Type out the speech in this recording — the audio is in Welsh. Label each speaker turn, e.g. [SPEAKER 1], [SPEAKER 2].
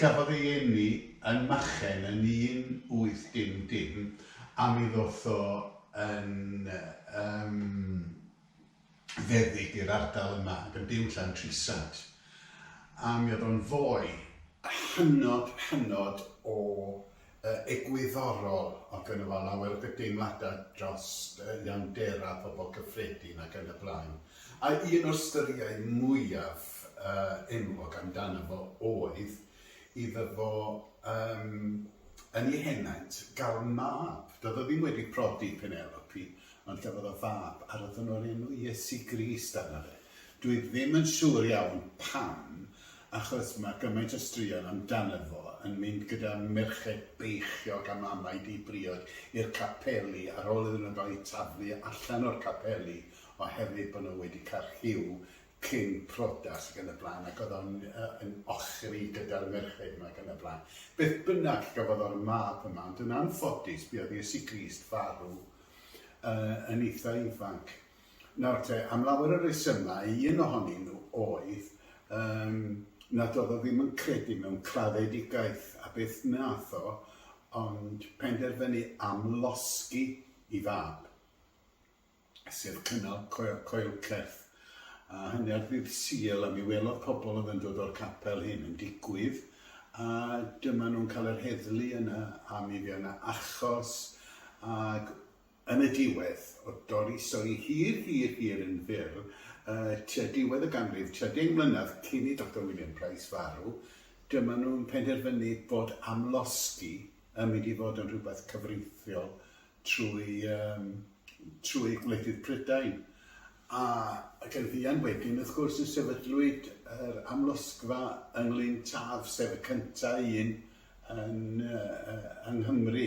[SPEAKER 1] Cafodd ei eni yn Machen yn 1800 a mi ddoth o yn yym feddyg i'r ardal yma ac yn byw yn Llantrisant a mi oedd o'n foi hynod hynod o yy egwyddorol ac yn y fan lawer o deimladau dros yy iawndera pobl cyffredin ac yn y blaen a un o'r styriau mwyaf yy enwog amdano fo oedd iddo fo yym yn ei henaint gael mab, doedd o ddim wedi prodi Penelope ond gafodd o fab a roedden nhw'n enw Iesu Grist arno fe. Dwi ddim yn siŵr iawn pam achos mae gymaint o straeon amdano fo yn mynd gyda merched beichiog a mamau di-briod i'r capeli ar ôl iddyn nhw gael eu taflu allan o'r capeli oherwydd bod nhw wedi cael rhyw cyn priodas ac yn y blaen ac oedd o'n yn ochri gyda'r merched 'ma ac yn y blaen. Beth bynnag gafodd o'r mab yma ond yn anffodus buodd Iesu Grist farw yn eitha ifanc. Nawr te, am lawer o resymau, un ohonyn nhw oedd yym nad oedd o ddim yn credu mewn claddedigaeth a beth wnaeth o ond penderfynu amlosgi ei fab, sef cynnal coe- coelcerth, a hynny ar ddydd Sul a mi welodd pobl oedd yn dod o'r capel hyn yn digwydd a dyma nhw'n cael yr heddlu yna a mi fuodd yna achos ac Yn y diwedd, o dorri stori hir, hir, hir yn fyr, tua diwedd y ganrif, tua deng mlynedd cyn i Doctor William Price farw, dyma nhw'n penderfynu bod amlosgi yn mynd i fod yn rhywbeth cyfreithiol trwy yym trwy gwledydd Prydain. A ac yn fuan wedyn, wrth gwrs, y sefydlwyd yr amlosgfa yng Nglyn Taf, sef y cynta' un yn yy yy yng Nghymru.